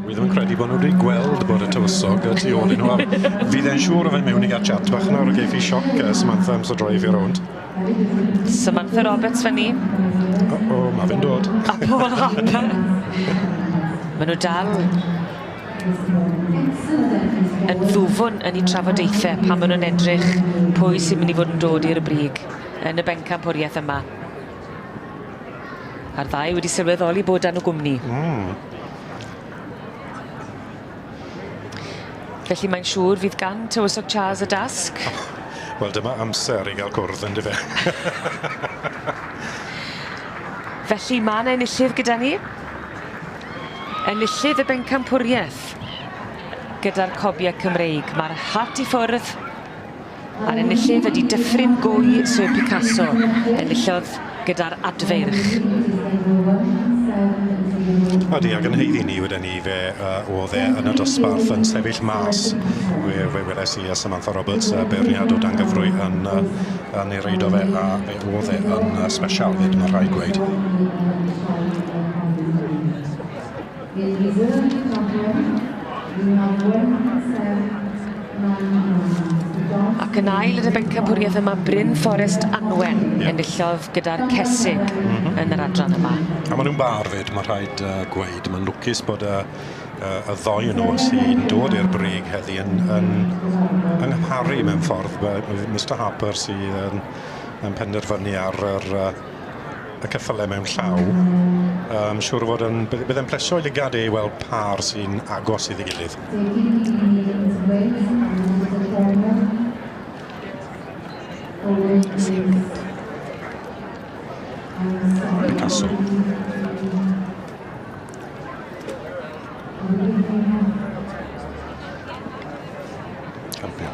Wi ddim yn credu bod nhw wedi gweld bod y tywysog y tu ôl i nhw. Fydd e'n siŵr o fe mewn i gael chat bach nawr o geith i sioc uh, Samantha am so droi fi rownd. Samantha Roberts fyny. O, oh, oh, mae fe'n dod. A Paul Harper. Mae nhw dal yn ddwfwn yn ei trafodaethau pan maen nhw'n edrych pwy sy'n mynd i fod yn dod i'r brig. yn y bencampwriaeth yma. A'r ddau wedi sylweddoli bod dan y gwmni. Mm. Felly mae'n siŵr fydd gan Tywysog Charles y dasg. Oh, Wel dyma amser i gael cwrdd yn dyfe. Felly mae yna enillydd gyda ni. Enillydd y bencampwriaeth gyda'r cobiau Cymreig. Mae'r hat i ffwrdd A'r enillydd ydy Dyffryn Gwy Sir Picasso. Enillodd gyda'r adfeirch. Ydy, ac yn heiddi ni wedi ni fe uh, oedd e yn y dosbarth yn sefyll mas. Fe, fe weles i a Samantha Roberts uh, beirniad o dangyfrwy yn, uh, yn ei reid o fe a fe oedd e yn uh, special fyd, mae rhaid gweud. Nid Rydym yn Cydnabod, Rydym ar Wen y Pentref, Nain Anwen, y Dors Ac yn ail yn y bencampwriaeth yma, Bryn Fforest Anwen enillodd gyda'r Cesig yn yr adran yma. A maen nhw'n bâr 'fyd, mae'n rhaid gweud. Mae'n lwcus bod y y ddoi o nhw sy'n dod i'r brig heddi yn yn yng ngharu mewn ffordd. Mister Harper sydd yn yn penderfynu ar yr y ceffyle mewn llaw, um, siŵr o fod yn, bydd e'n plesio i lygad ei weld par sy'n agos iddi gilydd. Castle. Campion.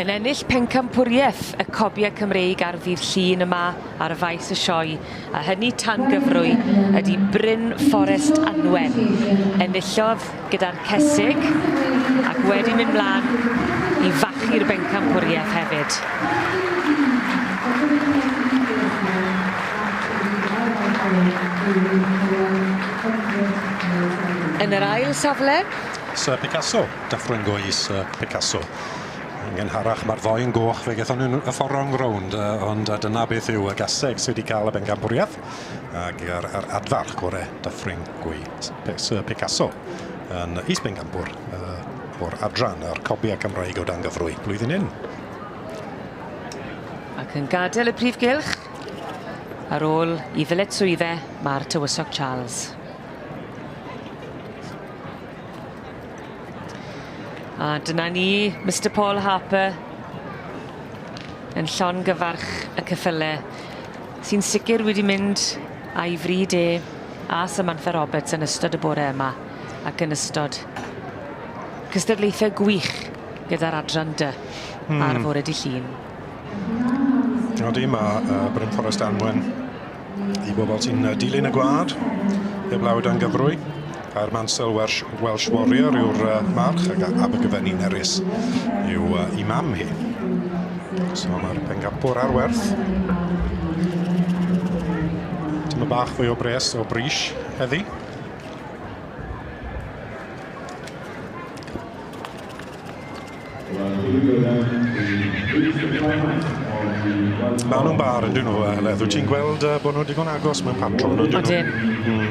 Yn ennill pencampwriaeth y cobiau Cymreig ar ddydd Llun yma ar y faes y sioe, a hynny tan gyfrwy, ydy Bryn Fforest Anwen. Enillodd gyda'r Cesig ac wedi mynd mlaen i fachu'r bencampwriaeth hefyd. Yn yr ail safle, Sir Picasso. Dyffryn Goes a Picasso. Yn gynharach mae'r ddou yn goch fe gaethon nhw'n y ffordd wrong rownd ond dyna beth yw y gaseg sydd wedi cael y bencampwriaeth ac yr, yr adfarch gore Dyffryn Goes Sir Picasso yn is bencampwr uh, o'r adran a'r cobiau Cymraeg o dan gyfrwy blwyddyn hyn. Ac yn gadael y prif gylch ar ôl i ddyledswydde mae'r tywysog Charles. A dyna ni, Mister Paul Harper yn llon gyfarch y cyffyle sy'n sicr wedi mynd a'i fryd e a Samantha Roberts yn ystod y bore yma ac yn ystod cystadlaethau gwych gyda'r adran dy hmm. ar fore di llun. Dyna di, mae uh, Bryn Forest Anwen i bobl sy'n uh, dilyn y gwlad, heblaw dan gyfrwy. A'r Mansell Welsh, Welsh Warrior yw'r uh, march ac Abergyfenni Nerys yw uh, i mam hi. So mae'r pengampwr ar werth. Tyma bach fwy o bres o bris heddi. Ma' nw'n bar on'd 'yn nw yy Heledd wyt ti'n gweld yy bo' nw digon agos mewn patrwm on'd 'yn nw? Odyn. Hmm.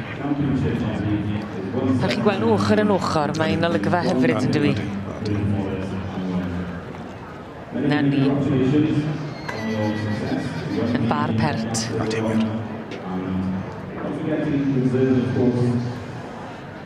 Fel chi'n gwel' nw ochor yn ochor mae'n olygfa hyfryd yndyw 'i? Odi odi odi. 'Na ni. Yn bar pert. Odi wir.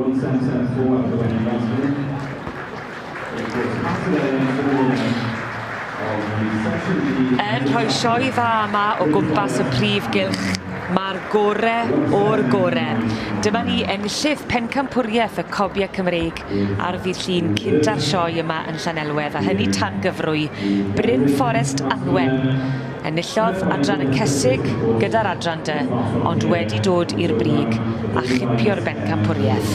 One seven seven four ar gyfer Iwan Smith. It was passed away on the corner of the section D. Yn rhoi sioe dda yma o gwmpas y prif gylch, mae'r gore o'r gore. Dyma ni enllydd pencampwriaeth y Cobiau Cymreig ar ddydd Llun cynta'r sioe yma yn Llanelwedd, a hynny tan gyfrwy Bryn Fforest Anwen. Enillodd Adran y Cesig gyda'r Adran De ond wedi dod i'r brig a chipio'r bencampwriaeth.